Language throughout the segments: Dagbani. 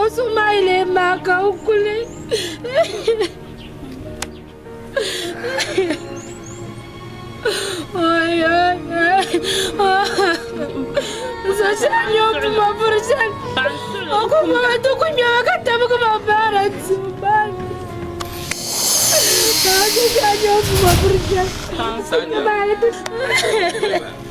O suhu maa yi leei maa ka o kuli. Zuɣu shɛli nyɛ o puma buri shɛli o ku bɔba ti ku nyɛba ka tabigi ma baara dibu maa ni. Zuɣu shɛli nyɛ o puma buri shɛli o ku bɔba ti.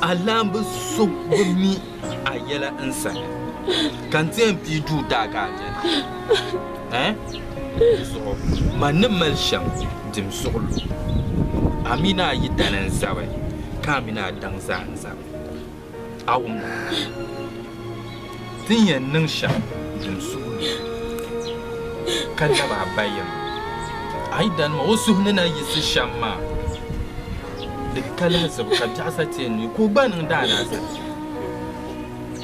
Alaamba so bi mi a yɛla n sani, ka n ti yɛn pii duu daa ka a beni. Ɛɛn? Di zuɣu man ni mali shɛm dim suɣulo. A mi ni a yidana n zabi, ka a mi ni a daŋ zaa n zabi. A wumda? Ti ni yɛn niŋ shɛm din suhi lu ka lab a ba yɛm. A yi danima o suhu ni na yiɣisi shɛm maa, di ka lahizibu ka biɛɣu sa ti n ni ka o gba niŋ daalahiza ti n.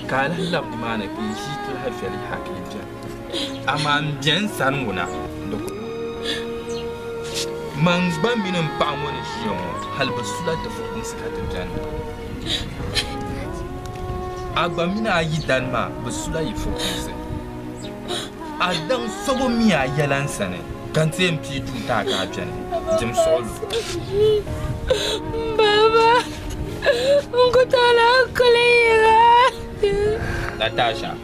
Ka a lahi lab nimaani ka yi ʒi ti lahi viɛli yaha ka yi beni. Amaa m be n sani ŋɔ na, di ku niŋ. Man gba mini m paɣa ŋɔ ni ʒiya ŋɔ, hal bɛ sula ti fukumsi ka ti beni. A gba mini a yidana maa bi sula yi fukumsi. A daŋ sobo mi a yɛla n sani ka n teei n pii tuuta ka a beni jɛm suɣulo. Baba, n ku tola n kuli yiŋa. Natasha.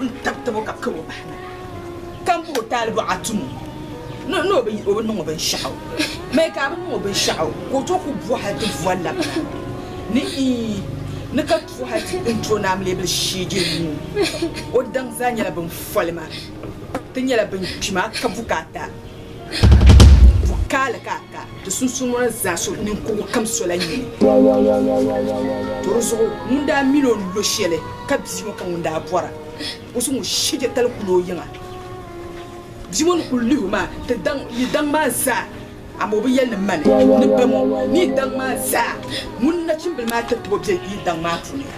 n-tib tib o ka kab o bahi na, ka m-puhi o taalibo Atumu ni o bi niŋ o binshɛɣu mi ka a bi niŋ o binshɛɣu ka o tooi ku bo hal ti vo labina ni iin ni ka tuui hal ti ni ti o naam leebil sheege nuu. O daŋ zaa nyɛla bin foli ma ti nyɛla bin kpi ma ka bukaata bukaali ka a ka. Di sunsuuni zaa so ninkurugu kam sola nyini tɔrizuɣu ŋun daa mini o ni lo shɛli ka bia ŋɔ ka ŋun daa bɔra o so ŋun shɛje tali kuli o yiŋa. Bia ŋɔ ni kuli lihi o maa ti daŋ yi daŋ maa zaa amaa o bi yɛli ni mani ni bɛmɔ ni yi daŋ maa zaa ŋun nachimbili maa tatabo be yi daŋ maa puuni.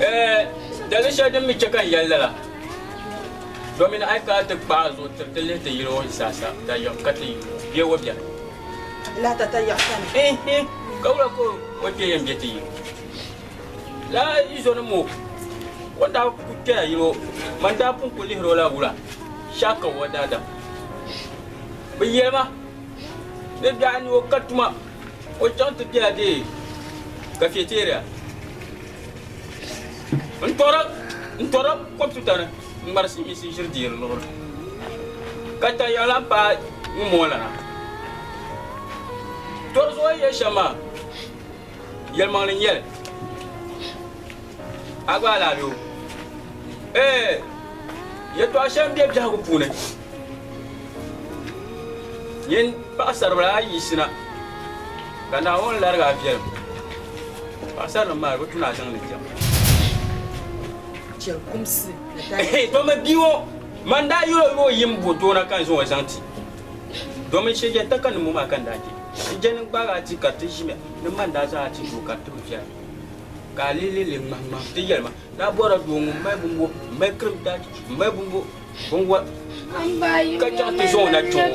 Eh, dali shɛli din mi chɛ ka n yɛli lala, domin a yi ka a ti kpaai zuɣu tiri ti lihi ti yili o zaasa ta yiɣi ka ti be o biɛni. Lahi ta ta yiɣi sani. Ihi, ka wula ka o kpe yɛn be ti yili? Laa yi zo ni mo, o ni daa ku kpɛya yili o, man daa pun ku lihiri o la wula, shɛhi ka o daadam. Bɛ yɛli ma ni biɛɣu ni o ka tuma O chaŋ ti bela dee cafeteria n tɔra n tɔra kɔmputa ni n ŋmari silimiinsi ʒiri deeri luɣuri ka tayaɣa lan paai ŋun moo lana tɔri zuɣu yɛ shɛm maa yɛlimaŋli n nyɛli a gba alaabɛ o ee yɛtɔɣa shɛm bɛ biɛhigu puuni Yin paɣasaribila ayi yisina ka Naawuni larigi a viɛlim. Paɣasarinim maa bi tu ni a zaŋ ni diɛm. Domi bia ŋɔ man daa yuli o ni o yim bo toona ka n zaŋ o zaŋ ti. Domi shɛ yɛn taka nimmo maa ka n daa je. N je ni gbaag a ti ka ti ʒimiya ni man daa zaŋ a ti doo ka ti bi viɛra. Ka a leei leei ŋmahi ŋmahi ti yɛli ma Daa bɔra doo ŋun mali bumbu m-mali krim taach m-mali bumbu binwɔr ka chaŋ ti zaŋ o na chaŋ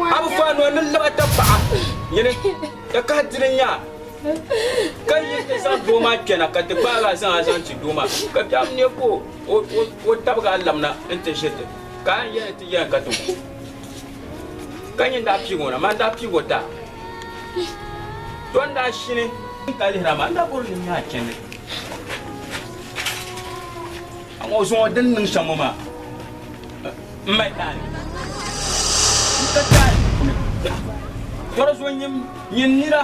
o. A bi faan o ni lab a tapaɣa nyini ka kahi di ni nya a ka yi ti zaŋ doo maa kpɛna ka ti gbaag a zaŋ a zaŋ ti doo maa ka bɛ am nya ka o tabig a labina nti ʒiri ti ka a yɛn ti yɛn ka ti gu. Ka nyin daa piigi o na, maa n-daa piigi o daa. To n daa shini n ka lihira maa, n daa bɔri o ni nya a chɛndi. Aŋa o zuŋɔ din niŋ shɛm ŋɔ maa, m mali daa ni n ka ti a ni. Tɔri zuŋɔ nyin nira.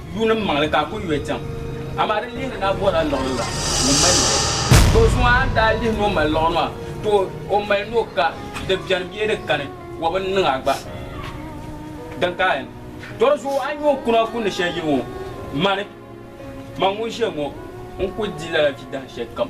Yuunim maŋli ka a ku yɔi chaŋ. Amaa di lihiri ni a bɔrila liɣiri la ŋun mali liɣiri. Tɔ! Zuŋɔ a ni daa lihi ni o mali liɣiri maa, tɔ! O mali ni o ka, di beni bee di kani, wɔbi n-niŋ a gba. Din ka a yɛn. Tɔ! Di zuɣu a nya o kuna ku ni shɛli yi ŋɔ, mani, man ŋun ʒiya ŋɔ, n ku di lala vi dahin shɛlikam.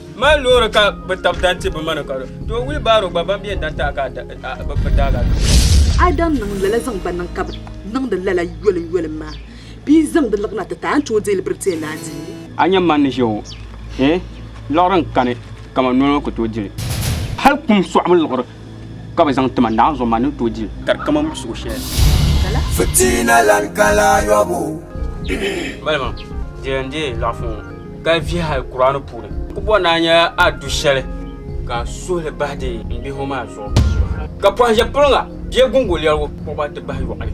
Mali loori ka bi tab dan ti bi mani ka do. To wii baaro gba ban biɛn dan taɣa ka bi bi daaga do. A dan niŋ lala zaŋ gba niŋ ka bi niŋdi lala yoli yoli maa bee zaŋ di liɣina ti taai n tooi deeli biritiya naa dini. A nya man ni ʒe ŋɔ hee liɣiri n kani kaman noli ŋɔ ku tooi dili. Hali kum sɔɣimi liɣiri Ka bɛ zaŋ ti ma naanzuɣu ma ni tooi di li. Ka di kaman suɣ shɛli. Fitina lan ka laa yɔbu. Malima diri n deei laɣifu ŋɔ ka vihi hali Kur'aani puuni. Ku bɔri ni a nya a du shɛli ka a suhi li bahi din yi n bihi ŋɔ maa zuɣu. Ka pɔhim ʒe piliŋa bee guŋgo lɛrigu kpuɣi ba ti bahi yɔɣili.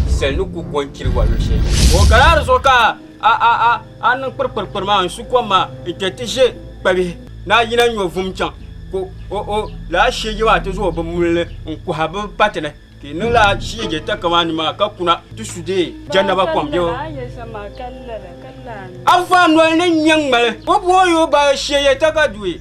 Sali ni ku go n-chiri ba luɣ shɛli. O ka laa di zuɣu ka. A a a a niŋ kpirikpirikpiri maa n-su kom maa n-kpe ti ʒe kpabihi ni a yina nyo vum chaŋ ka o o laa shieje maa ti zooi bimmuli ni n-kuhi bɛ pati ni ka i niŋ laa shieje takamaani maa ka kuna ti su deei Jannaba kom biɛbu. A vaa noli ni n-nyɛ ŋmali, o booyi o ba shieje takadui.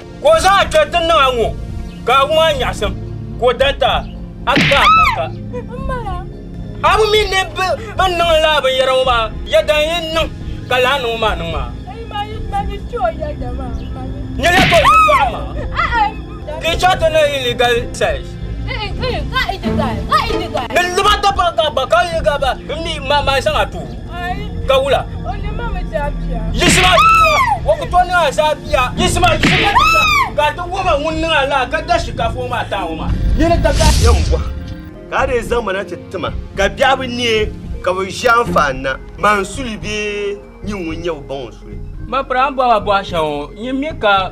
Ka o zaŋ a kpɛri ti niŋ a ŋɔ, ka a wum a nyaɣisim, ka o dan ti a, a ti bahi a kanka. A mi mi ni bɛ ni niŋ lala binyɛra ŋɔ maa yɛda n-yi niŋ ka lala niŋbu maa niŋ maa. Nyɛ ya tɔbu yɛtɔɣa maa, ka yi chaŋ ti niŋ illegal sex. Ni di ba dabba gaba ka yi gaba, m mi ma zaŋ a tooi. ka wula yisima o ku to niŋ a zaa bia yisima yisima ka a ti woma ŋun niŋ a laa ka da shikafu ŋɔ maa taa ŋɔ maa nini ka ka yɛn bɔha ka a dee zaŋ ma na ti tima ka biɛhi bi neei ka bi ʒi anfaani na man suli bee nyin ŋun nyɛ bi ba ŋɔ suli. Ma piri a ni bɔhi ma bɔhi shɛŋa ŋɔ nyin mi ka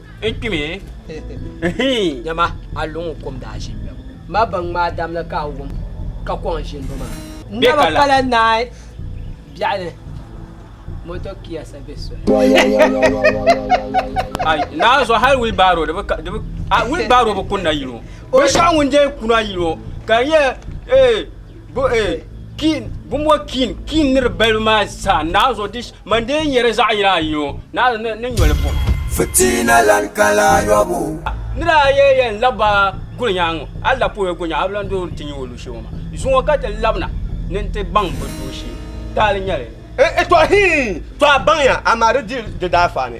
N kpimi. Nyama a luŋ kom daa ʒi bɛm. Ma baŋ ŋmaa dam ni ka a wum ka kɔŋ ʒinbu maa. Naba pala naai biɛɣu ni motor Kia sabi soli. Naai zuɣu hali wheel barrow di bi wheel barrow bi kunna yino. Binshɛɣu ŋun dee kuna yino ka n yɛ ee. Bo eh, Kiin, bumbo Kiin, Kiin nir balibu maa zaa naai zuɣu di man dee nyɛri zaɣ yini ayi ŋɔ, naai zuɣu ni nyoli buɣim. Fitina lan ka la ayɔbu. Ni daa yɛli yɛn lab ba guli nyaaŋa, a lab pɔi guli nyaaŋa, a bi lan dɔɔri ti nya o luɣishɛli ŋɔ maa. Zuŋɔ ka ti lab na ni n ti baŋ bɛ dooshee. Taali nyɛli. N-ŋ-ŋ, tɔɣ hii! Tɔ a baŋya, amaa di di di daafaani.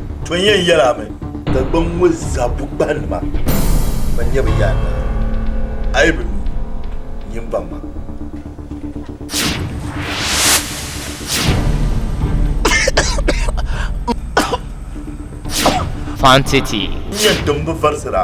To n yɛn yɛli a mi. Dagbaŋ ŋɔ zabu kpahinima ban nyɛ bi yaanna la, a yi bi lu nyin baŋ ma. Fan City. N yɛn tim bi varisira.